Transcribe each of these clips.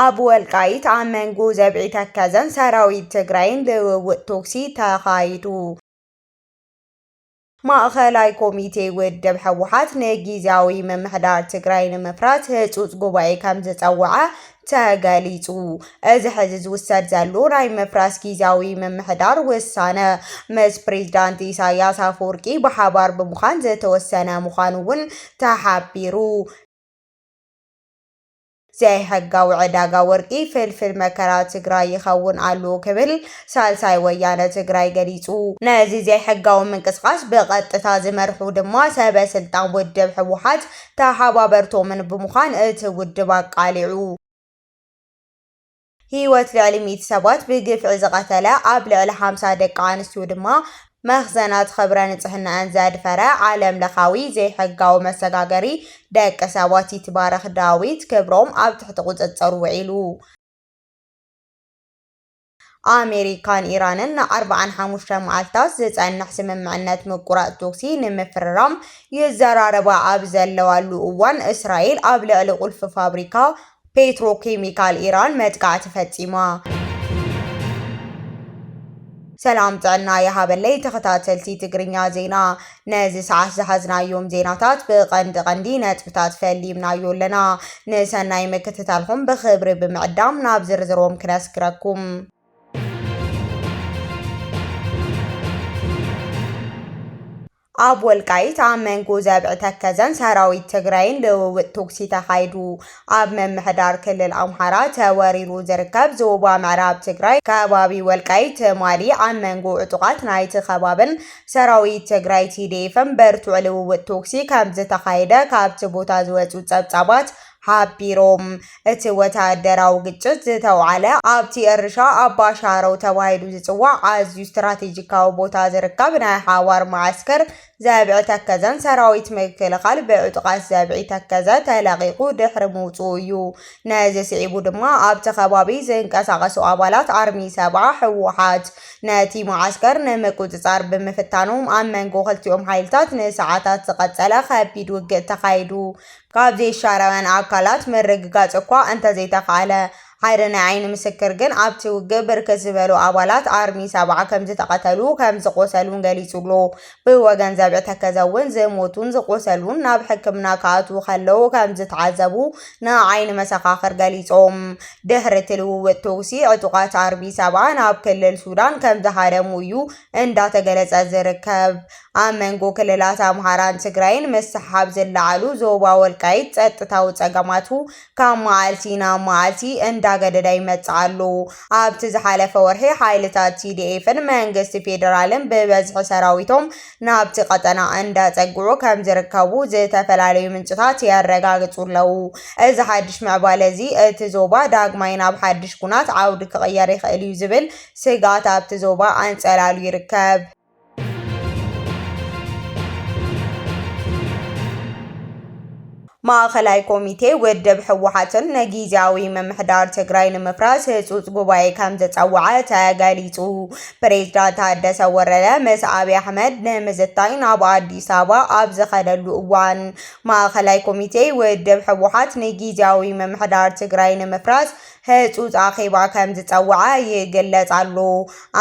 ኣብ ወልቃይት ኣብ መንጎ ዘብዒ ተከዘን ሰራዊት ትግራይን ልውውጥ ቶክሲ ተኻይዱ። ማእኸላይ ኮሚቴ ውድብ ህወሓት ንጊዜያዊ ምምሕዳር ትግራይ ንምፍራስ ህፁፅ ጉባኤ ከም ዝፀወዐ ተገሊፁ። እዚ ሕዚ ዝውሰድ ዘሎ ናይ ምፍራስ ጊዚያዊ ምምሕዳር ውሳነ ምስ ፕሬዚዳንት ኢሳያስ ኣፈወርቂ ብሓባር ብምዃን ዝተወሰነ ምዃኑ እውን ተሓቢሩ። ዘይሕጋዊ ዕዳጋ ወርቂ ፍልፍል መከራ ትግራይ ይኸውን ኣሎ ክብል ሳልሳይ ወያነ ትግራይ ገሊፁ። ነዚ ዘይሕጋዊ ምንቅስቓስ ብቐጥታ ዝመርሑ ድማ ሰበ ስልጣን ውድብ ህወሓት ተሓባበርቶምን ብምዃን እቲ ውድብ ኣቃሊዑ። ህይወት ልዕሊ ሚእቲ ሰባት ብግፍዒ ዝቐተለ፣ ኣብ ልዕሊ ሓምሳ ደቂ ኣንስትዩ ድማ መኽዘናት ኽብረ ንፅህነኣን ዘድፈረ ዓለም ለኻዊ ዘይሕጋዊ መሰጋገሪ ደቂ ሰባት ይትባረኽ ዳዊት ክብሮም ኣብ ትሕቲ ቁፅፅር ውዒሉ። ኣሜሪካን ኢራንን ንኣርብዓን ሓሙሽተን መዓልታት ዝጸንሕ ስምምዕነት ምቁራጽ ቶኽሲ ንምፍርራም ይዘራረባ ኣብ ዘለዋሉ እዋን፣ እስራኤል ኣብ ልዕሊ ቁልፊ ፋብሪካ ፔትሮኬሚካል ኢራን መጥቃዕቲ ፈጺማ። ሰላም ጥዕና ይሃበለይ ተኸታተልቲ ትግርኛ ዜና ነዚ ሰዓት ዝሓዝናዮም ዜናታት ብቐንዲ ቐንዲ ነጥብታት ፈሊምናዮ ኣለና። ንሰናይ ምክትታልኹም ብኽብሪ ብምዕዳም ናብ ዝርዝሮም ክነስግረኩም። ኣብ ወልቃይት ኣብ መንጎ ዘብዒ ተከዘን ሰራዊት ትግራይን ልውውጥ ቶክሲ ተኻይዱ። ኣብ ምምሕዳር ክልል ኣምሓራ ተወሪሩ ዝርከብ ዞባ ምዕራብ ትግራይ ከባቢ ወልቃይት ትማሊ ኣብ መንጎ ዕጡቓት ናይቲ ከባብን ሰራዊት ትግራይ ቲዲኤፍን ብርቱዕ ልውውጥ ቶክሲ ከም ዝተኻየደ ካብቲ ቦታ ዝወፁ ፀብፃባት ሓቢሮም እቲ ወታደራዊ ግጭት ዝተውዓለ ኣብቲ እርሻ ኣባሻረው ተባሂሉ ዝፅዋዕ ኣዝዩ ስትራቴጂካዊ ቦታ ዝርከብ ናይ ሓዋር መዓስከር ዛብዒ ተከዘን ሰራዊት ምክልኻል ብዕጡቓት ዛብዒ ተከዘ ተለቒቑ ድሕሪ ምውፅኡ እዩ። ነዚ ስዒቡ ድማ ኣብቲ ከባቢ ዝንቀሳቐሱ ኣባላት ኣርሚ ሰብዓ፣ ህወሓት፣ ነቲ መዓስከር ንምቁፅፃር ብምፍታኖም ኣብ መንጎ ክልቲኦም ሓይልታት ንሰዓታት ዝቐፀለ ከቢድ ውግእ ተኻይዱ። ካብ ዘይሻራውያን ኣካላት ምርግጋፅ እኳ እንተዘይተኽኣለ፣ ሓደ ናይ ዓይኒ ምስክር ግን ኣብቲ ውግእ ብርክት ዝበሉ ኣባላት ኣርሚ ሰባ ከምዝተቐተሉ ከምዝቖሰሉን ገሊጹ'ሎ። ብወገን ዘብዒ ተከዘ'ውን ዝሞቱን ዝቖሰሉን ናብ ሕክምና ክኣትዉ ከለዉ ከምዝተዓዘቡ ንዓይኒ መሰኻኽር ገሊጾም። ድሕሪ እቲ ልውውጥ ተኹሲ ዕጡቓት ኣርሚ ሰባ ናብ ክልል ሱዳን ከምዝሃደሙ እዩ እንዳተገለጸ ዝርከብ። ኣብ መንጎ ክልላት ኣምሓራን ትግራይን ምስሕሓብ ዝለዓሉ ዞባ ወልቃይት ጸጥታዊ ጸገማቱ ካብ መዓልቲ ናብ መዓልቲ እንዳገደደ ይመጽእ ኣሎ። ኣብቲ ዝሓለፈ ወርሒ ሓይልታት ቲዲኤፍን መንግስቲ ፌደራልን ብበዝሒ ሰራዊቶም ናብቲ ቀጠና እንዳጸግዑ ከምዝርከቡ ዝተፈላለዩ ምንጭታት የረጋግጹ ኣለዉ። እዚ ሓድሽ ምዕባለ እዚ እቲ ዞባ ዳግማይ ናብ ሓድሽ ኩናት ዓውዲ ክቕየር ይኽእል እዩ ዝብል ስግኣት ኣብቲ ዞባ ኣንጸላልዩ ይርከብ። ማእኸላይ ኮሚቴ ውድብ ህወሓትን ንጊዜያዊ ምምሕዳር ትግራይ ንምፍራስ ህፁፅ ጉባኤ ከም ዘፀወዐ ተገሊፁ። ፕሬዝዳንት ታደሰ ወረደ ምስ ኣብዪ ኣሕመድ ንምዝታይ ናብ ኣዲስ ኣበባ ኣብ ዝኸደሉ እዋን ማእኸላይ ኮሚቴ ውድብ ህወሓት ንጊዜያዊ ምምሕዳር ትግራይ ንምፍራስ ህጹጽ ኣኼባ ከም ዝጸውዐ ይግለጽ ኣሎ።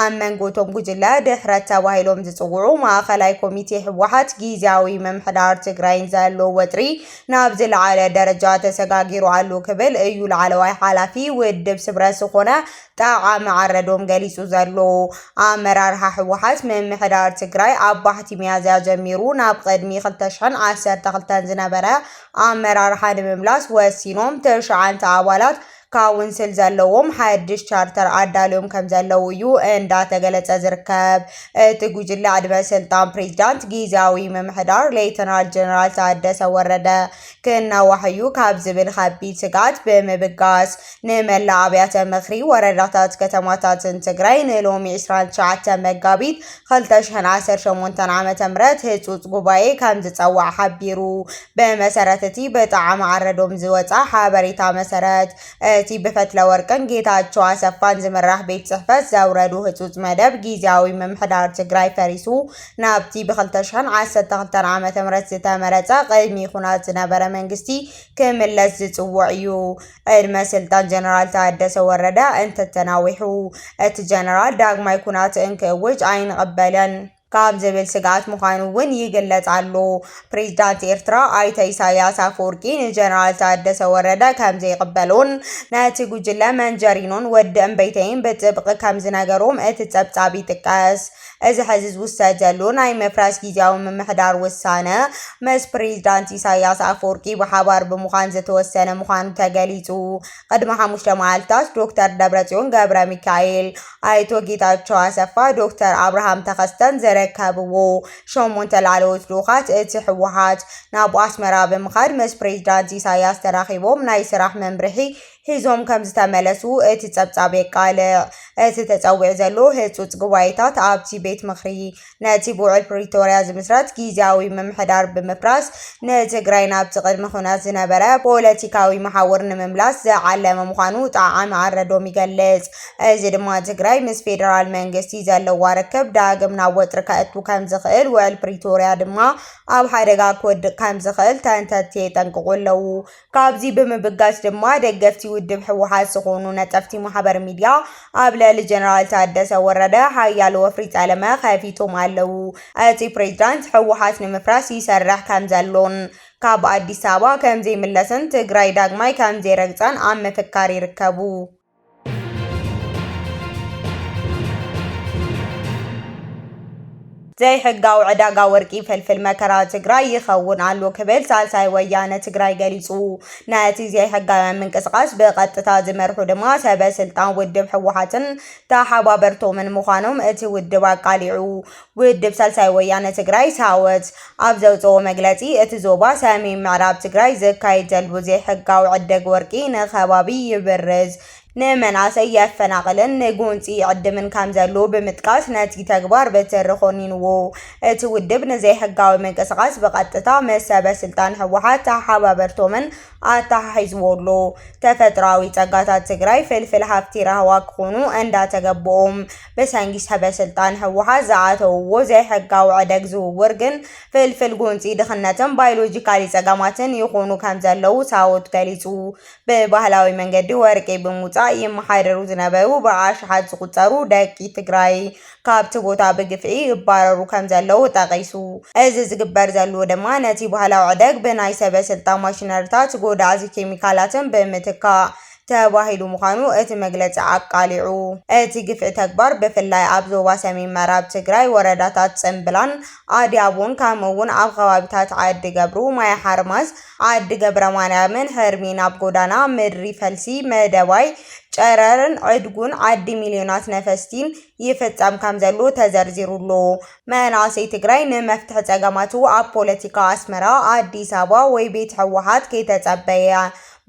ኣብ መንጎ እቶም ጉጅለ ድሕረት ተባሂሎም ዝጽውዑ ማእኸላይ ኮሚቴ ህወሓት ጊዚያዊ ምምሕዳር ትግራይን ዘሎ ወጥሪ ናብ ዝለዓለ ደረጃ ተሰጋጊሩ ኣሎ ክብል እዩ ላዕለዋይ ሓላፊ ውድብ ስብረት ዝኾነ ጣዓመ ዓረዶም ገሊጹ ዘሎ። ኣመራርሓ ህወሓት ምምሕዳር ትግራይ ኣብ ባሕቲ ሚያዝያ ጀሚሩ ናብ ቕድሚ ክልተ ሽሕን ዓሰርተ ክልተን ዝነበረ ኣመራርሓ ንምምላስ ወሲኖም ትሽዓንተ ኣባላት ካውንስል ዘለዎም ሓድሽ ቻርተር ኣዳልዮም ከም ዘለዉ እዩ እንዳተገለጸ ዝርከብ። እቲ ጉጅለ ዕድመ ስልጣን ፕሬዚዳንት ጊዜያዊ ምምሕዳር ሌተናል ጀነራል ታደሰ ወረደ ክናዋሕ እዩ ካብ ዝብል ከቢድ ስግኣት ብምብጋስ ንመላእ ኣብያተ ምኽሪ ወረዳታት ከተማታትን ትግራይ ንሎሚ 29 መጋቢት 2018 ዓ.ም ህፁፅ ጉባኤ ከም ዝፀዋዕ ሓቢሩ። ብመሰረት እቲ በጣዕሚ ኣረዶም ዝወፃ ሓበሬታ መሰረት እቲ ብፈትለ ወርቅን ጌታቸው ኣሰፋን ዝምራሕ ቤት ፅሕፈት ዘውረዱ ህፁፅ መደብ ጊዜያዊ ምምሕዳር ትግራይ ፈሪሱ ናብቲ ብ2012 ዓ.ም ዝተመረፀ ቅድሚ ኩናት ዝነበረ መንግስቲ ክምለስ ዝፅውዕ እዩ። ዕድመ ስልጣን ጀነራል ታደሰ ወረደ እንተተናዊሑ እቲ ጀነራል ዳግማይ ኩናት እንክእውጅ ኣይንቕበልን ካብ ዝብል ስግኣት ምዃኑ እውን ይግለጽ ኣሎ። ፕሬዚዳንት ኤርትራ ኣይተ ኢሳያስ ኣፈወርቂ ንጀነራል ታደሰ ወረደ ከም ዘይቕበሎን ነቲ ጉጅለ መንጀሪኖን ወዲ እምበይተይን ብጥብቒ ከም ዝነገሮም እቲ ጸብጻብ ይጥቀስ። እዚ ሕዚ ዝውሰድ ዘሎ ናይ ምፍራስ ጊዚያዊ ምምሕዳር ውሳነ ምስ ፕሬዚዳንት ኢሳያስ ኣፈወርቂ ብሓባር ብምዃን ዝተወሰነ ምዃኑ ተገሊፁ። ቕድሚ ሓሙሽተ መዓልትታት ዶክተር ደብረፅዮን ገብረሚካኤል፣ ኣይቶ ጌታቸው ኣሰፋ፣ ዶክተር ኣብርሃም ተኸስተን ዝርከብዎ ሸሞንተ ላዕለዎት ልኡኻት እቲ ህወሓት ናብ ኣስመራ ብምኻድ ምስ ፕሬዚዳንት ኢሳያስ ተራኺቦም ናይ ስራሕ መምርሒ ሒዞም ከምዝተመለሱ እቲ ጸብጻብ የቃልዕ። እቲ ተጸዊዑ ዘሎ ህጹጽ ጉባኤታት ኣብቲ ቤት ምኽሪ ነቲ ብውዕል ፕሪቶርያ ዝምስረት ጊዚያዊ ምምሕዳር ብምፍራስ ንትግራይ ናብቲ ቅድሚ ኩናት ዝነበረ ፖለቲካዊ መሓውር ንምምላስ ዝዓለመ ምዃኑ ጣዓመ ኣረዶም ይገልጽ። እዚ ድማ ትግራይ ምስ ፌደራል መንግስቲ ዘለዋ ርክብ ዳግም ናብ ወጥሪ ከእቱ ከምዝኽእል ውዕል ፕሪቶርያ ድማ ኣብ ሓደጋ ክወድቕ ከምዝኽእል ተንተንቲ የጠንቅቑ ኣለዉ። ካብዚ ብምብጋስ ድማ ደገፍቲ ውድብ ህወሓት ዝኾኑ ነጠፍቲ ማሕበር ሚድያ ኣብ ልዕሊ ጀነራል ታደሰ ወረደ ሓያል ወፍሪ ጸለመ ከፊቶም ኣለዉ። እቲ ፕሬዝዳንት ህወሓት ንምፍራስ ይሰርሕ ከምዘሎን ካብ ኣዲስ ኣበባ ከምዘይምለስን ትግራይ ዳግማይ ከምዘይረግጻን ኣብ ምፍካር ይርከቡ። ዘይሕጋዊ ዕዳጋ ወርቂ ፍልፍል መከራ ትግራይ ይኸውን ኣሎ ክብል ሳልሳይ ወያነ ትግራይ ገሊጹ። ነቲ ዘይሕጋውያን ምንቅስቓስ ብቐጥታ ዝመርሑ ድማ ሰበ ስልጣን ውድብ ህወሓትን ተሓባበርቶምን ምዃኖም እቲ ውድብ ኣቃሊዑ። ውድብ ሳልሳይ ወያነ ትግራይ፣ ሳወት፣ ኣብ ዘውጽእዎ መግለጺ፣ እቲ ዞባ ሰሜን ምዕራብ ትግራይ ዝካየድ ዘሉ ዘይሕጋዊ ዕደግ ወርቂ ንከባቢ ይብርዝ፣ ንመናእሰይ የፈናቕልን ንጎንጺ ይዕድምን ከምዘሉ ብምጥቃስ ነቲ ተግባር ብትሪ ኮኒንዎ። እቲ ውድብ ንዘይሕጋዊ ምንቅስቓስ ብቐጥታ ምስ ሰበ ስልጣን ህወሓት ተሓባበርቶምን ኣተሓሒዝዎ ኣሎ። ተፈጥሮኣዊ ጸጋታት ትግራይ ፍልፍል ሃፍቲ ራህዋ ክኾኑ እንዳተገበኦም ብሰንኪ ሰበ-ስልጣን ህወሓት ዝኣተውዎ ዘይሕጋዊ ዕደግ ዝውውር ግን ፍልፍል ጎንፂ ድኽነትን ባዮሎጂካሊ ፀገማትን ይኾኑ ከምዘለዉ ሳዎት ገሊፁ። ብባህላዊ መንገዲ ወርቂ ብምውፃእ ይመሓደሩ ዝነበሩ ብኣሽሓት ዝቑፀሩ ደቂ ትግራይ ካብቲ ቦታ ብግፍዒ ይባረሩ ከምዘለዉ ጠቒሱ። እዚ ዝግበር ዘልዎ ድማ ነቲ ባህላዊ ዕደግ ብናይ ሰበ-ስልጣን ማሽነሪታት ጎዳእዚ ኬሚካላትን ብምትካእ ተባሂሉ ምዃኑ እቲ መግለፂ ኣቃሊዑ። እቲ ግፍዒ ተግባር ብፍላይ ኣብ ዞባ ሰሜን ምዕራብ ትግራይ ወረዳታት ፅምብላን ኣድያቦን ከምኡ እውን ኣብ ኸባቢታት ዓዲ ገብሩ፣ ማይ ሓርማዝ፣ ዓዲ ገብረማርያምን ሕርሚ ናብ ጎዳና ምድሪ ፈልሲ፣ መደባይ፣ ጨረርን ዕድጉን ዓዲ ሚልዮናት ነፈስቲን ይፍፀም ከምዘሎ ተዘርዚሩ ኣሎ። መናእሰይ ትግራይ ንመፍትሒ ፀገማቱ ኣብ ፖለቲካ ኣስመራ፣ ኣዲስ ኣበባ ወይ ቤት ህወሓት ከይተፀበየ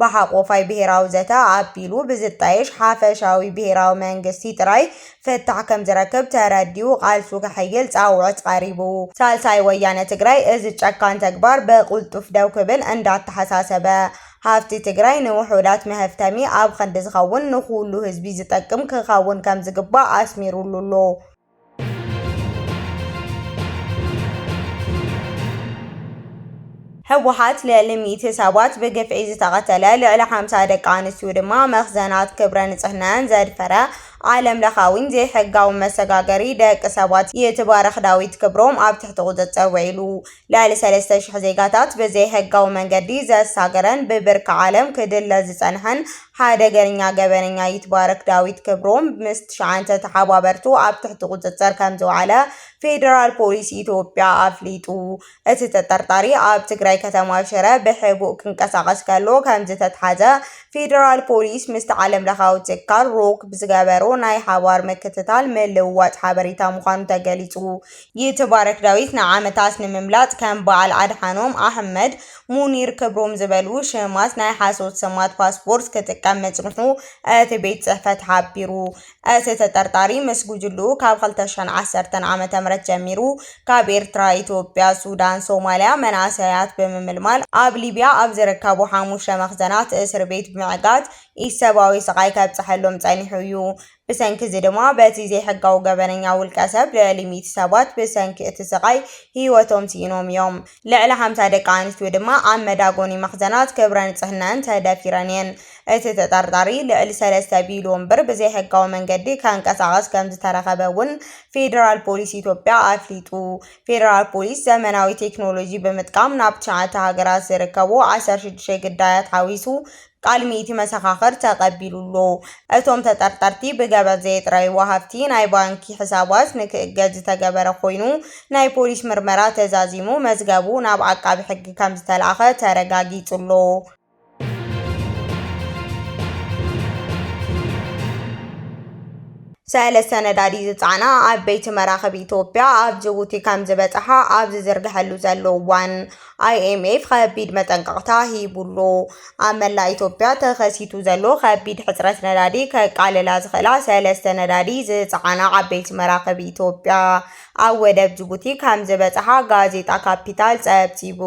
ብሓቆፋይ ብሄራዊ ዘተ ኣቢሉ ብዝጣየሽ ሓፈሻዊ ብሄራዊ መንግስቲ ጥራይ ፍታሕ ከምዝረክብ ተረዲኡ ቃልሱ ከሐይል ፃውዕት ቐሪቡ ሳልሳይ ወያነ ትግራይ እዚ ጨካን ተግባር ብቁልጡፍ ደው ክብል እንዳተሓሳሰበ ሃፍቲ ትግራይ ንውሑዳት መሀፍተሚ ኣብ ኽንዲ ዝኸውን ንኹሉ ህዝቢ ዝጠቅም ክኸውን ከምዝግባእ ኣስሚሩሉ ኣሎ። ህወሓት ልዕሊ ሚእቲ ሰባት ብግፍዒ ዝተቐተለ፣ ልዕሊ ሓምሳ ደቂ ኣንስትዩ ድማ መኽዘናት ክብረ ንፅህንኣን ዘድፈረ ዓለም ለኻዊን ዘይሕጋውን መሰጋገሪ ደቂ ሰባት ይትባረኽ ዳዊት ክብሮም ኣብ ትሕቲ ቁፅፅር ውዒሉ። ልዕሊ ሰለስተ ሽሕ ዜጋታት ብዘይሕጋዊ መንገዲ ዘሳገረን ብብርኪ ዓለም ክድለ ዝፀንሐን ሓደገኛ ገበነኛ ይትባረክ ዳዊት ክብሮም ምስ ትሽዓተ ተሓባበርቱ ኣብ ትሕቲ ቁፅፅር ከምዝወዓለ ፌዴራል ፖሊስ ኢትዮጵያ ኣፍሊጡ። እቲ ተጠርጣሪ ኣብ ትግራይ ከተማ ሽረ ብሕቡእ ክንቀሳቐስ ከሎ ከምዝተትሓዘ ፌዴራል ፖሊስ ምስቲ ዓለምለኻዊ ትካል ሮክ ብዝገበሮ ናይ ሓባር ምክትታል ምልውዋጥ ሓበሬታ ምዃኑ ተገሊፁ። ይትባረክ ዳዊት ንዓመታት ንምምላጥ ከም በዓል ኣድሓኖም፣ ኣህመድ፣ ሙኒር ክብሮም ዝበሉ ሽማት ናይ ሓሶት ስማት ፓስፖርት ክጥቀም ምጽንሑ እቲ ቤት ጽሕፈት ሓቢሩ። እቲ ተጠርጣሪ ምስ ጉጅልኡ ካብ ክልተ ሽሕን ዓሰርተን ዓመተ ምህረት ጀሚሩ ካብ ኤርትራ፣ ኢትዮጵያ፣ ሱዳን፣ ሶማልያ መንእሰያት ብምምልማል ኣብ ሊብያ ኣብ ዝርከቡ ሓሙሽተ መኽዘናት እስርቤት ብምዕጋት ኢሰብኣዊ ስቓይ ከብጽሐሎም ጸኒሑ እዩ። ብሰንኪ እዚ ድማ በቲ ዘይሕጋዊ ገበነኛ ውልቀ ሰብ ልዕሊ ሚእቲ ሰባት ብሰንኪ እቲ ስቓይ ህይወቶም ስኢኖም እዮም። ልዕሊ ሓምሳ ደቂ ኣንስትዮ ድማ ኣብ መዳጎኒ መኽዘናት ክብረ ንጽህነኣን ተደፊረን እየን። እቲ ተጠርጣሪ ልዕሊ ሰለስተ ቢልዮን ብር ብዘይሕጋዊ መንገዲ ከንቀሳቕስ ከም ዝተረኸበ እውን ፌደራል ፖሊስ ኢትዮጵያ ኣፍሊጡ። ፌደራል ፖሊስ ዘመናዊ ቴክኖሎጂ ብምጥቃም ናብ ትሽዓተ ሃገራት ዝርከቡ ዓሰርተ ሽዱሽተ ግዳያት ሓዊሱ ቃል ሚእቲ መሰኻኽር ተቐቢሉ ኣሎ። እቶም ተጠርጠርቲ ብገበን ዘየጥረይዎ ሃፍቲ ናይ ባንኪ ሕሳባት ንክእገድ ዝተገበረ ኮይኑ፣ ናይ ፖሊስ ምርመራ ተዛዚሙ መዝገቡ ናብ ዓቃቢ ሕጊ ከምዝተላእኸ ተረጋጊፁ ኣሎ። ሰለስተ ነዳዲ ዝፀዓና ዓበይቲ መራኽብ ኢትዮጵያ ኣብ ጅቡቲ ከምዝበፀሓ ኣብ ዝዝርገሐሉ ዘሎ እዋን ኣይኤምኤፍ ኸቢድ መጠንቀቕታ ሂቡ'ሎ። ኣብ መላእ ኢትዮጵያ ተኸሲቱ ዘሎ ኸቢድ ሕጽረት ነዳዲ ከቃልላ ዝኽእላ ሰለስተ ነዳዲ ዝጸዓና ዓበይቲ መራኽብ ኢትዮጵያ ኣብ ወደብ ጅቡቲ ከምዝበጽሓ ጋዜጣ ካፒታል ጸብጺቡ።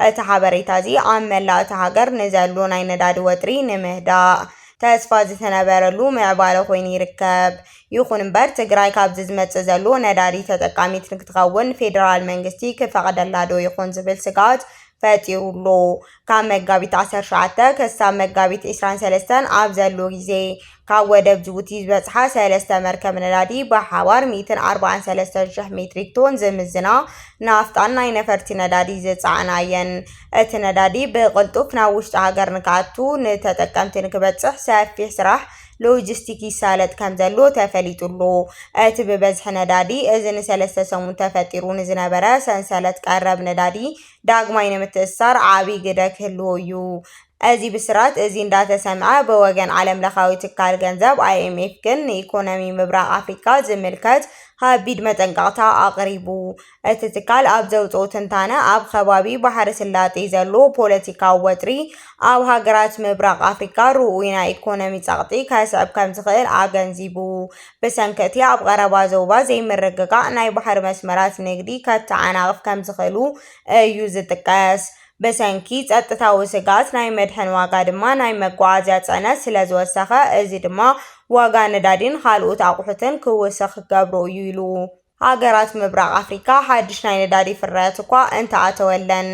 እቲ ሓበሬታ'ዚ ኣብ መላእ እታ ሃገር ንዘሎ ናይ ነዳዲ ወጥሪ ንምህዳእ ተስፋ ዝተነበረሉ ምዕባለ ኮይኑ ይርከብ። ይኹን እምበር ትግራይ ካብዚ ዝመፅእ ዘሎ ነዳዲ ተጠቃሚት ንክትኸውን ፌደራል መንግስቲ ክፈቕደላ ዶ ይኾን ዝብል ስግኣት ፈጢሩ'ሎ። ካብ መጋቢት 17 ክሳብ መጋቢት 23 ኣብ ዘሎ ግዜ ካብ ወደብ ጅቡቲ ዝበጽሓ ሰለስተ መርከብ ነዳዲ ብሓባር 143,000 ሜትሪክ ቶን ዝምዝና ናፍጣን ናይ ነፈርቲ ነዳዲ ዝጸዓና እየን። እቲ ነዳዲ ብቕልጡፍ ናብ ውሽጢ ሃገር ንክኣቱ ንተጠቀምቲ ንክበጽሕ ሰፊሕ ስራሕ ሎጂስቲክ ይሳለጥ ከምዘሎ ተፈሊጡ'ሎ። እቲ ብበዝሒ ነዳዲ እዚ ንሰለስተ ሰሙን ተፈጢሩ ንዝነበረ ሰንሰለት ቀረብ ነዳዲ ዳግማይ ንምትእስሳር ዓቢ ግደ ክህልዎ'ዩ። እዚ ብስራት እዚ እንዳተሰምዐ ብወገን ዓለምለኻዊ ትካል ገንዘብ፣ ኣይኤምኤፍ፣ ግን ንኢኮኖሚ ምብራቕ ኣፍሪቃ ዝምልከት ከቢድ መጠንቀቕታ ኣቕሪቡ። እቲ ትካል ኣብ ዘውጽኦ ትንታነ፣ ኣብ ኸባቢ ባሕሪ ስላጤ ዘሎ ፖለቲካዊ ወጥሪ ኣብ ሃገራት ምብራቕ ኣፍሪካ ርኡይ ናይ ኢኮኖሚ ጸቕጢ ከስዕብ ከምዝኽእል ኣገንዚቡ። ብሰንኪ እቲ ኣብ ቐረባ ዞባ ዘይምርግጋእ ናይ ባሕሪ መስመራት ንግዲ ከተዓናቕፍ ከምዝኽእሉ እዩ ዝጥቀስ። ብሰንኪ ጸጥታዊ ስግኣት ናይ መድሕን ዋጋ ድማ ናይ መጓዓዝያ ጽዕነት ስለዝወሰኸ እዚ ድማ ዋጋ ነዳዲን ኻልኦት ኣቑሑትን ክውስኽ ክገብሮ እዩ ኢሉ። ሃገራት ምብራቕ ኣፍሪቃ ሓድሽ ናይ ነዳዲ ፍርያት እኳ እንተኣተወለን፣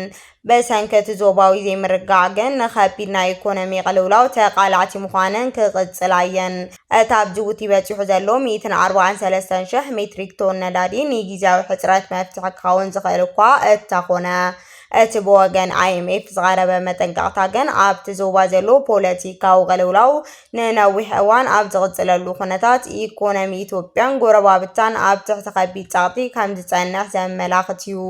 ብሰንኪ እቲ ዞባዊ ዘይምርግጋእ ግን ንኸቢድ ናይ ኢኮኖሚ ቅልውላው ተቓላዕቲ ምዃነን ክቕጽላ እየን። እቲ ኣብ ጅቡቲ በጺሑ ዘሎ ሚእትን ኣርባዓን ሰለስተን ሽሕ ሜትሪክ ቶን ነዳዲ ንጊዚያዊ ሕጽረት መፍትሒ ክኸውን ዝኽእል እኳ እተኾነ፣ እቲ ብወገን ኣይኤምኤፍ ዝቐረበ መጠንቀቕታ ግን ኣብቲ ዞባ ዘሎ ፖለቲካዊ ቅልውላው ንነዊሕ እዋን ኣብ ዝቕጽለሉ ኩነታት ኢኮኖሚ ኢትዮጵያን ጎረባብታን ኣብ ትሕቲ ከቢድ ጸቕጢ ከም ዝጸንሕ ዘመላኽት እዩ።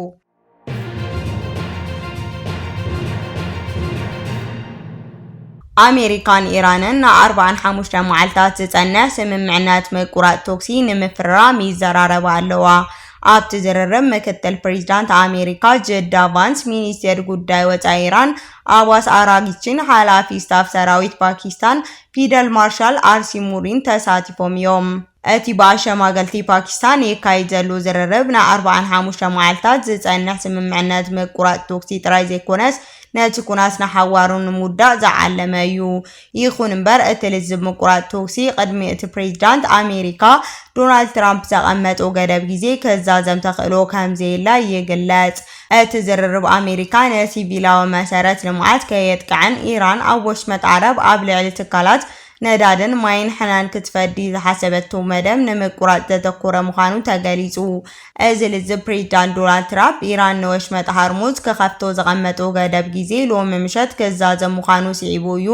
ኣሜሪካን ኢራንን ንኣርባዓን ሓሙሽተ መዓልታት ዝጸንሕ ስምምዕነት ምቁራጽ ተኩሲ ንምፍርራም ይዘራረባ ኣለዋ። ኣብቲ ዝርርብ ምክትል ፕሬዚዳንት ኣሜሪካ ጀዳ ቫንስ፣ ሚኒስቴር ጉዳይ ወፃኢ ኢራን ኣባስ ኣራግቺን ሓላፊ ስታፍ ሰራዊት ፓኪስታን ፊደል ማርሻል ኣርሲ ሙሪን ተሳቲፎም እዮም። እቲ ብኣሸማገልቲ ፓኪስታን ይካይድ ዘሉ ዝርርብ ንኣርብዓን ሓሙሽተ መዓልታት ዝፀንሕ ስምምዕነት ምቁራፅ ቶክሲ ጥራይ ዘይኮነስ ነቲ ኩናት ንሓዋሩ ንምውዳእ ዝዓለመ እዩ ይኹን እምበር እቲ ልዝብ ምቁራጽ ተኩሲ ቅድሚ እቲ ፕሬዚዳንት ኣሜሪካ ዶናልድ ትራምፕ ዘቐመጦ ገደብ ግዜ ክዛዘም ተኽእሎ ከምዘየለ ይግለጽ። እቲ ዝርርብ ኣሜሪካ ንሲቪላዊ መሰረት ልምዓት ከየጥቅዐን ኢራን ኣብ ወሽመጥ ዓረብ ኣብ ልዕሊ ትካላት ነዳድን ማይን ሕናን ክትፈዲ ዝሓሰበቶ መደብ ንምቁራጽ ዘተኮረ ምዃኑ ተገሊጹ። እዚ ልዝብ ፕሬዚዳንት ዶናልድ ትራፕ ኢራን ንወሽመጥ ሃርሙዝ ክኸፍቶ ዘቐመጡ ገደብ ጊዜ ሎሚ ምሸት ክዛዘም ምዃኑ ስዒቡ እዩ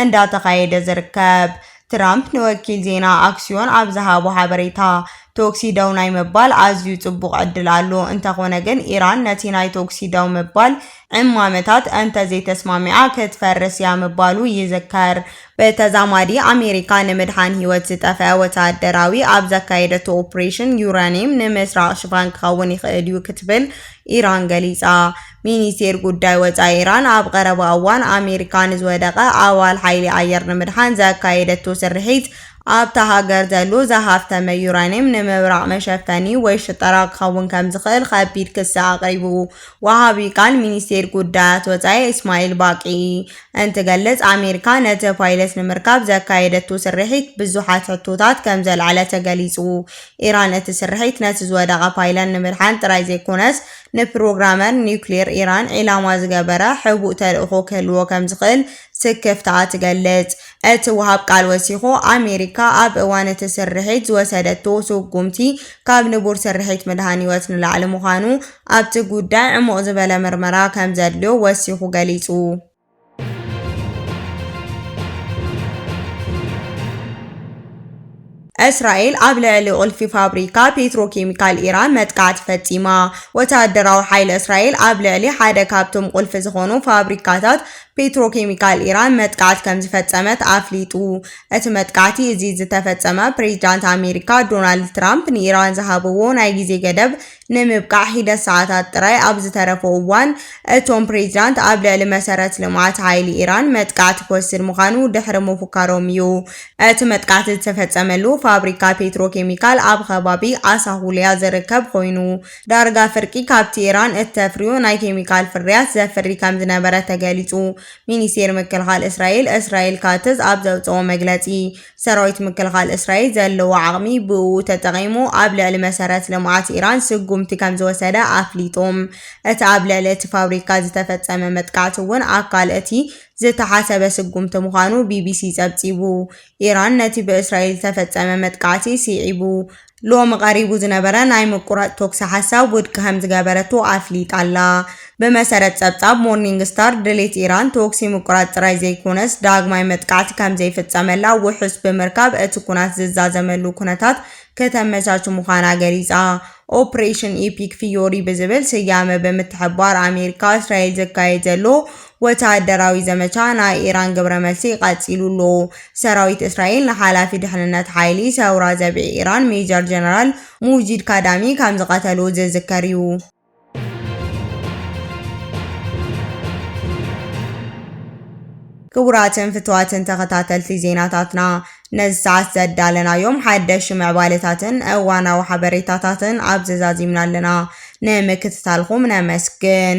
እንዳተኻየደ ዝርከብ። ትራምፕ ንወኪል ዜና ኣክስዮን ኣብ ዝሃቦ ሓበሬታ፣ ቶክሲ ደው ናይ ምባል ኣዝዩ ጽቡቕ ዕድል ኣሎ፣ እንተኾነ ግን ኢራን ነቲ ናይ ቶክሲ ደው ምባል ዕማመታት እንተ ዘይተስማሚዓ ክትፈርስ እያ ምባሉ ይዝከር። ብተዛማዲ ኣሜሪካ ንምድሓን ህይወት ዝጠፍአ ወተሃደራዊ ኣብ ዘካየደቶ ኦፕሬሽን ዩራኒየም ንምስራቕ ሽፋን ክኸውን ይኽእል እዩ ክትብል ኢራን ገሊጻ። ሚኒስቴር ጉዳይ ወጻኢ ኢራን ኣብ ቐረባ እዋን ኣሜሪካ ንዝወደቐ ኣባል ሓይሊ ኣየር ንምድሓን ዘካየደቶ ስርሒት ኣብታ ሃገር ዘሎ ዝሃፍተመ ዩራኒየም ንምብራቕ መሸፈኒ ወይ ሽጠራ ክኸውን ከምዝኽእል ኸቢድ ክሲ ኣቕሪቡ። ወሃቢ ቃል ሚኒስቴር ጉዳያት ወፃኢ እስማኤል ባቂ እንትገልፅ፣ ኣሜሪካ ነቲ ፓይለት ንምርካብ ዘካየደቶ ስርሒት ብዙሓት ሕቶታት ከምዘልዓለ ተገሊፁ። ኢራን እቲ ስርሒት ነቲ ዝወደቐ ፓይለን ንምድሓን ጥራይ ዘይኮነስ ንፕሮግራመር ኒውክሌር ኢራን ዒላማ ዝገበረ ሕቡእ ተልእኾ ክህልዎ ከምዝኽእል ስክፍታኣ ትገልፅ። እቲ ወሃብ ቃል ወሲኹ፣ ኣሜሪካ ኣብ እዋን እቲ ስርሒት ዝወሰደቶ ስጉምቲ ካብ ንቡር ስርሒት ምድሓን ህይወት ንላዕሊ ምዃኑ ኣብቲ ጉዳይ ዕሙቕ ዝበለ ምርመራ ከም ዘድልዮ ወሲኹ ገሊጹ። እስራኤል ኣብ ልዕሊ ቁልፊ ፋብሪካ ፔትሮኬሚካል ኢራን መጥቃዕቲ ፈጺማ። ወተሃደራዊ ሓይሊ እስራኤል ኣብ ልዕሊ ሓደ ካብቶም ቁልፊ ዝኾኑ ፋብሪካታት ፔትሮኬሚካል ኢራን መጥቃዕቲ ከም ዝፈጸመት ኣፍሊጡ። እቲ መጥቃዕቲ እዚ ዝተፈጸመ ፕሬዝዳንት ኣሜሪካ ዶናልድ ትራምፕ ንኢራን ዝሃብዎ ናይ ግዜ ገደብ ንምብቃዕ ሒደት ሰዓታት ጥራይ ኣብ ዝተረፎ እዋን፣ እቶም ፕሬዚዳንት ኣብ ልዕሊ መሰረት ልምዓት ሓይሊ ኢራን መጥቃዕቲ ክወስድ ምዃኑ ድሕሪ ምፉካሮም እዩ። እቲ መጥቃዕቲ ዝተፈጸመሉ ፋብሪካ ፔትሮ ኬሚካል ኣብ ኸባቢ ኣሳሁሊያ ዝርከብ ኾይኑ፣ ዳርጋ ፍርቂ ካብቲ ኢራን እተፍርዮ ናይ ኬሚካል ፍርያት ዘፍሪ ከምዝነበረ ተገሊጹ። ሚኒስቴር ምክልኻል እስራኤል እስራኤል ካትዝ ኣብ ዘውጽኦ መግለጺ፣ ሰራዊት ምክልኻል እስራኤል ዘለዎ ዓቕሚ ብእኡ ተጠቒሙ ኣብ ልዕሊ መሰረት ልምዓት ኢራን ስጉምቲ ከምዝወሰደ ኣፍሊጡ። እቲ ኣብ ልዕሊ እቲ ፋብሪካ ዝተፈጸመ መጥቃዕቲ እውን ኣካል እቲ ዝተሓሰበ ስጉምቲ ምዃኑ ቢቢሲ ጸብጺቡ። ኢራን ነቲ ብእስራኤል ዝተፈጸመ መጥቃዕቲ ስዒቡ፣ ሎሚ ቀሪቡ ዝነበረ ናይ ምቁራጽ ተኩሲ ሓሳብ ውድቂ ከምዝገበረቶ ኣፍሊጣ'ላ። ብመሰረት ጸብጻብ ሞርኒንግ ስታር፣ ድሌት ኢራን ተኩሲ ምቁራጽ ጥራይ ዘይኮነስ፣ ዳግማይ መጥቃዕቲ ከምዘይፍጸመላ ውሑስ ብምርካብ እቲ ኩናት ዝዛዘመሉ ኩነታት ክተመቻች ምዃና ገሊጻ። ኦፕሬሽን ኢፒክ ፍዮሪ ብዝብል ስያመ ብምትሕብባር ኣሜሪካ እስራኤል ዝካየድ ዘሎ ወተሃደራዊ ዘመቻ ናይ ኢራን ግብረመልሲ ቀጺሉ'ሎ። ሰራዊት እስራኤል ንሓላፊ ድሕንነት ሓይሊ ሰውራ ዘብዒ ኢራን ሜጀር ጀነራል ሙጂድ ካዳሚ ከምዝቐተሎ ዝዝከር'ዩ። ክቡራትን ፍቱዋትን ተኸታተልቲ ዜናታትና ነዚ ሰዓት ዘዳለናዮም ሓደሽቲ ምዕባለታትን እዋናዊ ሓበሬታታትን ኣብዚ ዛዚምና ኣለና። ንምክትታልኩም ነመስግን።